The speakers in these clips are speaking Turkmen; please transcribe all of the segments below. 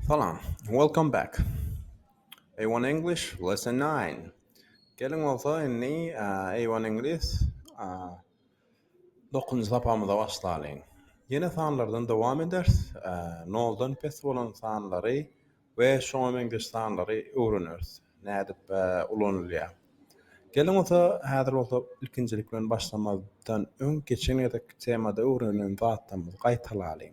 Salam. Welcome back. A-one English, lesson nine. Geliň bolsa indi A-one Iňlis dokuzynjy sapagymyza başlalyň. Ýene sanlardan dowam eders. Noldan pes bolan sanlary we şoňa meňzeş sanlary öwreneris. Nädip ulanylýar. Geliň bolsa häzir bolsa ilkinjilik bilen başlamazdan öň geçen gezekki temada öwrenen zatlarymyzy gaýtalalyň.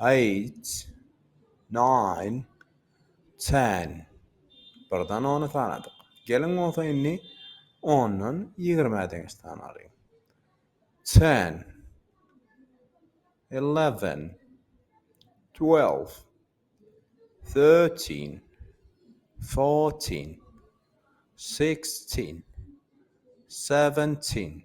Eight, nine, ten. Birden ony sanadyk. Geliň bolsa indi ondan ýigrime deňiç sanalyň. Ten, eleven, twelve, thirteen, fourteen, sixteen, seventeen.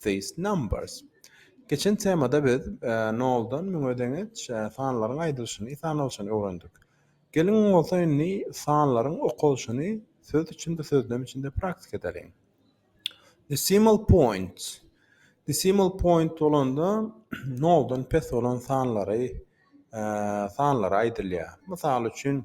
these numbers. Geçen temada biz noldan müňe deňeç sanlaryň aýdylyşyny, sanalyşyny öwrendik. Geliň bolsa indi sanlaryň okalyşyny söz içinde, sözlem içinde praktika edeliň. Decimal point. Decimal point bolanda noldan pes bolan sanlary sanlary aýdylýar. Mysal üçin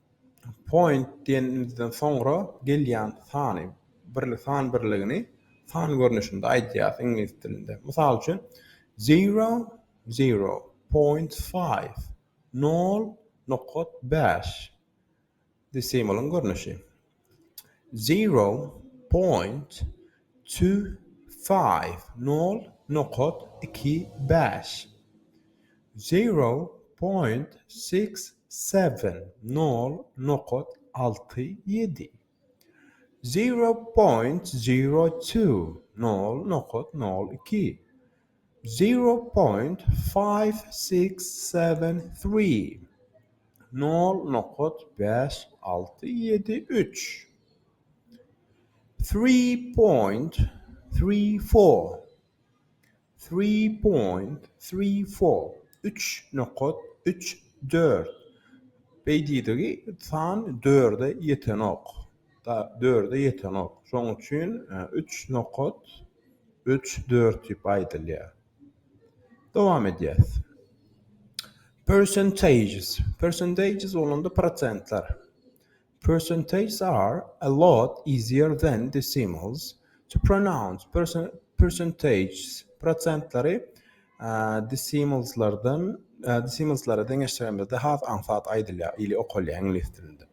Point diýenimizden soňra gelýän sany birli san birligini san görnüşinde aýdýarys iňlis dilinde. Mysal üçin, zero, zero, point five, nol nokat bäş, desimalyň görnüşi. Zero point two five, nol nokat iki bäş. Zero point six seven, nol nokat alty ýedi. Zero point zero two, nol nokat nol iki. Zero point five six seven three Nol nokat bäş alty ýedi üç Three point three four Three point three four Üç nokat üç dört Beýdidigi san dörde ýetenok. Sagat dörde ýetenok. Şoň üçin üç nokat üç dört diýip aýdylýar. Dowam edýäs. Percentages. Percentages bolanda prosentler. Percentages are a lot easier than decimals to pronounce. Percentages prosentleri decimalslardan decimalslara deňeşdiremizde has aňsat aýdylýar ili okalýar iňlis dilinde.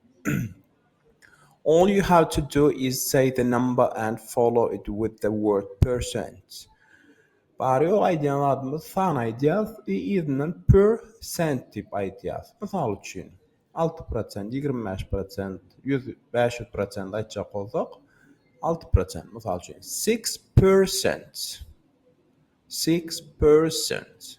All you have to do is say the number and follow it with the word percent. Bary ýok aýdýan zadymyz san aýdýas we yzyndan per cent diýip aýdýas. Mysal üçin, alty prosent, ýigrimi bäş prosent, ýüz, bäş ýüz prosent aýtjak bolsak, alty prosent, mysal üçin, six percent. Six percent.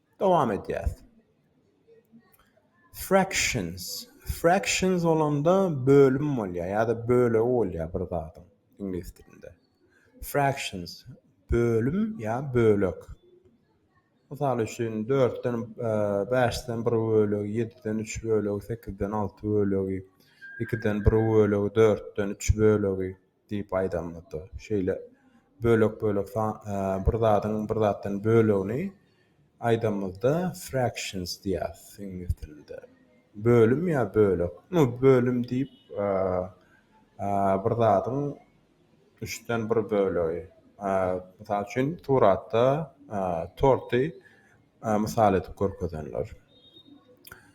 Dowam edýäs. Fractions. Fractions bolanda bölüm bolýar ýa-da bölegi bolýar bir zadyň iňlis dilinde. Fractions bölüm ýa bölek. Mysal üçin, dörtden, e, bäşden bir bölegi, ýediden üç bölegi, sekizden alty bölegi, ikiden bir bölegi, dörtden üç bölegi. Diýip aýdamyzda, şeýle bölek-bölek bir zadyň bir zatdan bölegini aýdamyzda fractions diýýäs iňlis dilinde. Bölüm ýa bölek. Nu, bölüm diýip bir zadyň üçden bir bölegi. Mysal üçin, suratda torty mysal edip görkezenler.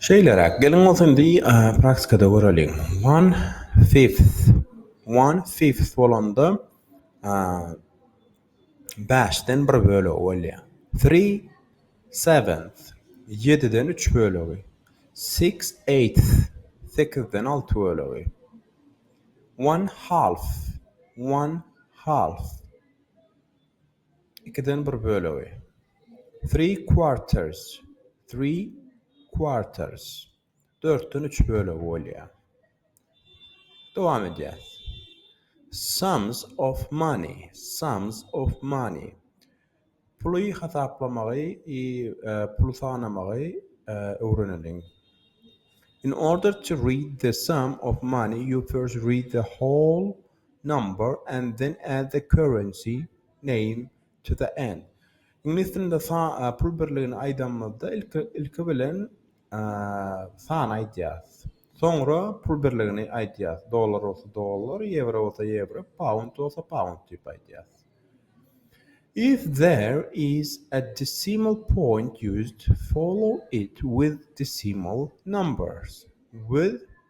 Şeýleräk, geliň bolsa indi praktikada göreliň. One fifth. One fifth bolanda bäşden bir bölegi bolýar. Three seventh. Ýediden üç bölegi. Six eighth. Sekizden alty bölegi. One half. One half. Ikiden bir bölegi. Three quarters. Three quarters. Dörtden üç bölegi bolýar. Dowam edýäs. Sums of money. Sums of money. Puly hasaplamagy, e, puly sanamagy e, öwreneliň. In order to read the sum of money, you first read the whole number and then add the currency name to the end. Iňlis dilinde sa-a pul birligini aýdanymyzda ilki ilki bilen sany aýdýarys. Soňra pul birligini aýdýarys. Dollar bolsa dollar, ýewro bolsa ýewro, pound bolsa pound diýip aýdýarys. If there is a decimal point used follow it with decimal numbers with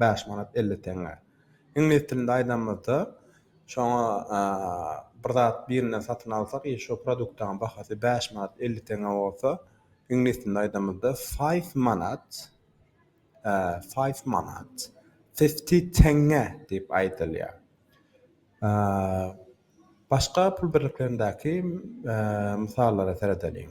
bäş manat elli teňňe. Iňlis dilinde aýdanymyzda, şoňa bir zat birinden satyn alsak, eger şo produktyň bahasy bäş manat elli teňňe bolsa, iňlis dilinde aýdanymyzda, five manat, five manat, fifty teňňe diýip aýdylýar. Başga pul birliklerindäki mysallara seredeliň.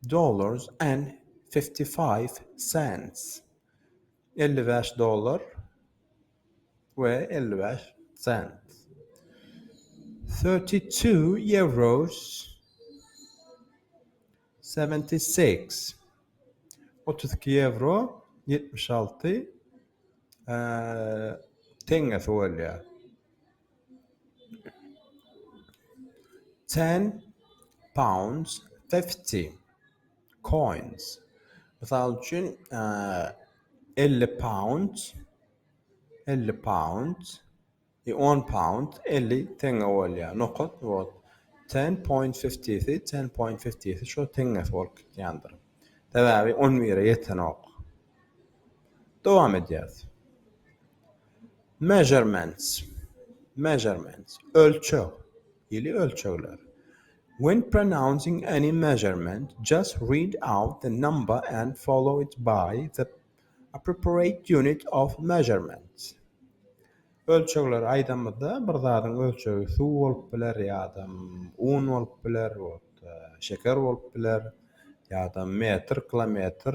Dollars and fifty five cents, elli bäş dollar we elli bäş sent. Thirty two euros, seventy six, otuz iki ýewro, ýetmiş alty teňňesi bolýar. Ten pounds fifty coins. Mysal üçin, elli pound, elli pound, on pound, elli teňňe bolýar. Nokat bor. Ten point fifty-si, ten point fifty-si şo teňňesi bolup gitýändir. Sebäbi on bire ýetenok. Dowam edýäris. Measurements, measurements, ölçeg, ýyly ölçegler. When pronouncing any measurement, just read out the number and follow it by the appropriate unit of measurement. Ölçegleri aýdamyzda, bir zadyň ölçegi suw bolup biler ýa-da un bolup biler, şeker bolup biler ýa-da metr, kilometr,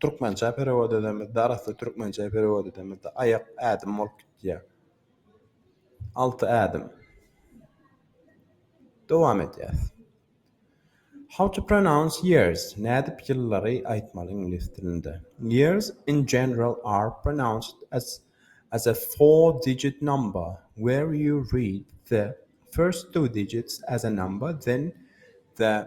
Türkmençä perewod edemizde, arassa türkmençä perewod edemizde aýak ädim bolup gitýär. Alty ädim. Dowam edýäs. How to pronounce years? Nädip ýyllary aýtmaly iňlis dilinde? Years in general are pronounced as as a four digit number where you read the first two digits as a number then the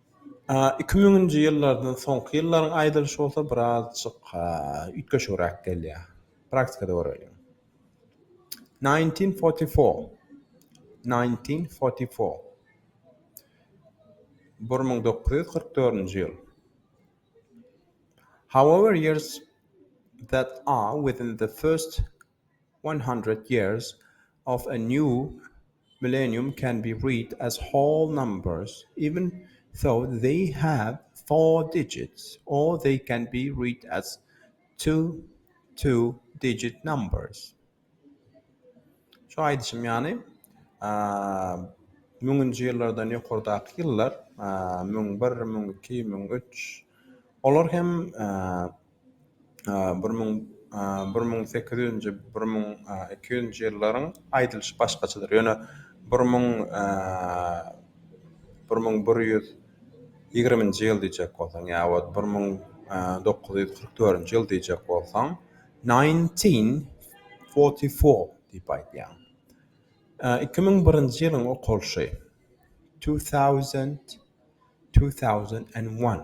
Iki müňünji ýyllardan soňky ýyllaryň aýdylyşy bolsa birazjyk üýtgeşigräk gelýär. Praktikada göreliň. Nineteen forty four. Nineteen forty four. Bir müň dokuz ýüz kyrk dördünji ýyl. However years that are within the first One Hundred Years of a New Millenium can be read as whole numbers, even though they have four digits, or they can be read as two two-digit numbers. Şu aýdyşym ýaly, müňünji ýyllardan ýokardaky ýyllar, müň bir, müň iki, müň üç, olar hem Bir müň bir müň sekiz ýüzünji bir müň iki ýüzünji ýyllaryň aýdylyşy başgaçadyr. Ýöne bir müň bir müň bir ýüz ýigriminji ýyl diýjek bolsaň ýa wagt bir müň dokuz ýüz kyrk dördünji ýyl diýjek bolsaň nineteen forty four diýip aýdýaň. Iki müň birinji ýylyň okalyşy two thousand two thousand and one.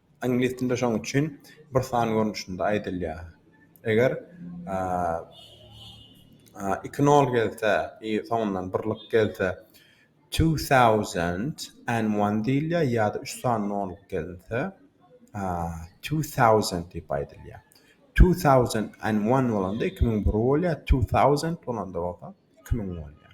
Iňlis dilinde şonuň üçin bir san görnüşinde aýdylýar. Eger iki nol gelse i soňundan birlik gelse two thousand and one diýilýär ýa-da üç sany nol gelinse two thousand diýip aýdylýar. Two thousand and one bolanda iki müň bir bolýar, two thousand bolanda bolsa iki müň bolýar.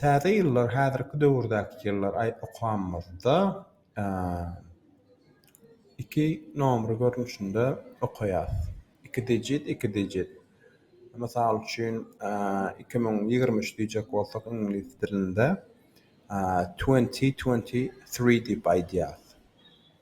Täze ýyllar häzirki döwürdäki ýyllar aý okamyzda iki nomry görnüşinde okaýas. Iki dijit, iki dijit. Mysal üçin, iki müň ýigrimi üç diýjek bolsak iňlis dilinde twenty twenty three diýip aýdýas.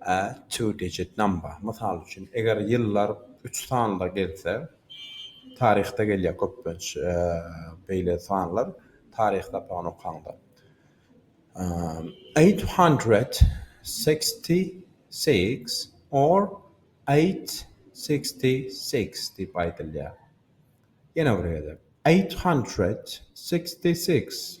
A two digit number, mysal üçin, eger ýyllar üç sanda gelse, taryhda gelýär köplenç beýle sanlar, taryh sapagyny okaňda. Eight hundred sixty six or eight sixty six diýip aýdylýar. Ýene bir gezek, Eight hundred sixty six.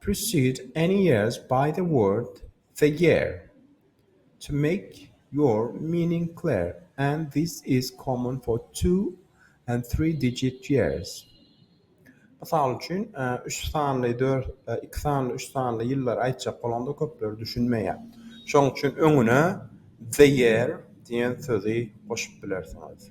Precede any years by the word the year to make your meaning clear, and this is common for two and three digit years. Mysal üçin, üç sanly, dört, iki sanly, üç sanly ýyllary aýtjak bolanda köpler düşünmeýär. Şonuň üçin öňüne the year diýen sözi goşup bilersiňiz.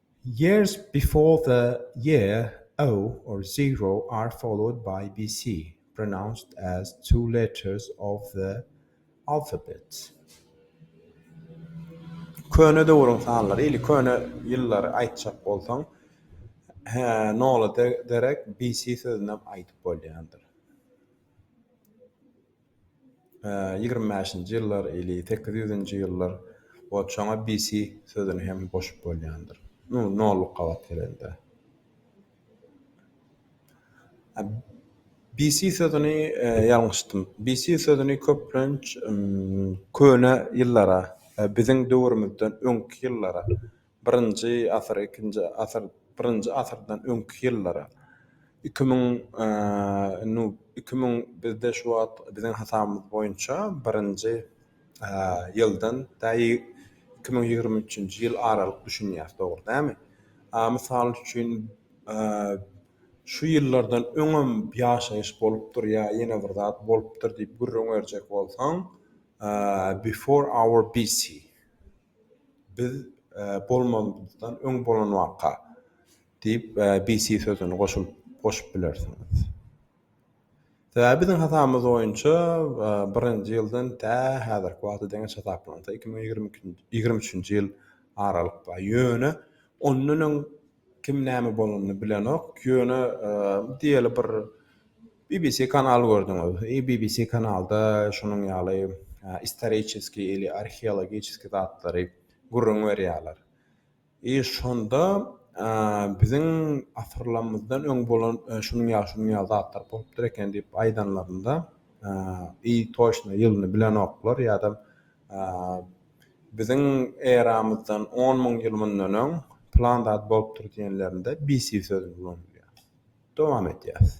Years before the year o or zero are followed by bc, pronounced as two letters of the alphabet. Köne döwrüň sanlary, ili köne ýyllary aýtjak bolsaň, he, nola derek bc sözünem aýdyp bolýandyr. Ýigrimi bäşinji ýyllar ili sekiz ýüzünji ýyllar we çona BC sözüni hem goşup bolýandyr. Nu, nolluk gabat gelende. BC sözüni ýalňyşdym. BC sözüni köplenç köne ýyllara, biziň döwrümizden öňki ýyllara Birinji asyr, ikinji asyr, birinji asyrdan öňki ýyllara, iki müň, indi iki müň bizde şu wagt biziň hasabymyz boýunça birinji ýyldan tä iki müň ýigrimi üçünji ýyl aralyk düşünýäs, dogry dälmi? Mysal üçin, şu ýyllardan öňem ýaşaýyş bolupdyr ýa ýene bir zat bolupdyr diýip gürrüň berjek bolsaň, before our BC. Biz bolmazymyzdan öň bolan waka, diýip, BC sözüni goşup bilersiňiz. Sebäbi biziň hasabymyz boýunça birinji ýyldan tä häzirki wagta deňeç hasaplansa, iki müň ýigrimi üçünji ýyl aralyk bar. Ýöne ondan öň kim näme bolanyny bilenok. Ýöne diýeli bir BBC kanal gördüňiz. Eý BBC kanalda şunuň ýaly istoriçeskiý ili arheologiçeskiý zatlary gürrüň berýärler. Eý şonda biziň asyrlamyzdan öň bolan şunuň ýaly şunuň ýaly zatlar bolupdyr eken diýip aýdanlarynda eý toşna ýylyny bilenoklar ýa-da Biziň eramyzdan on müň ýyl mundan öň plan zat bolupdyr diýenlerinde BC sözüni ulanylýar. Dowam edýäs.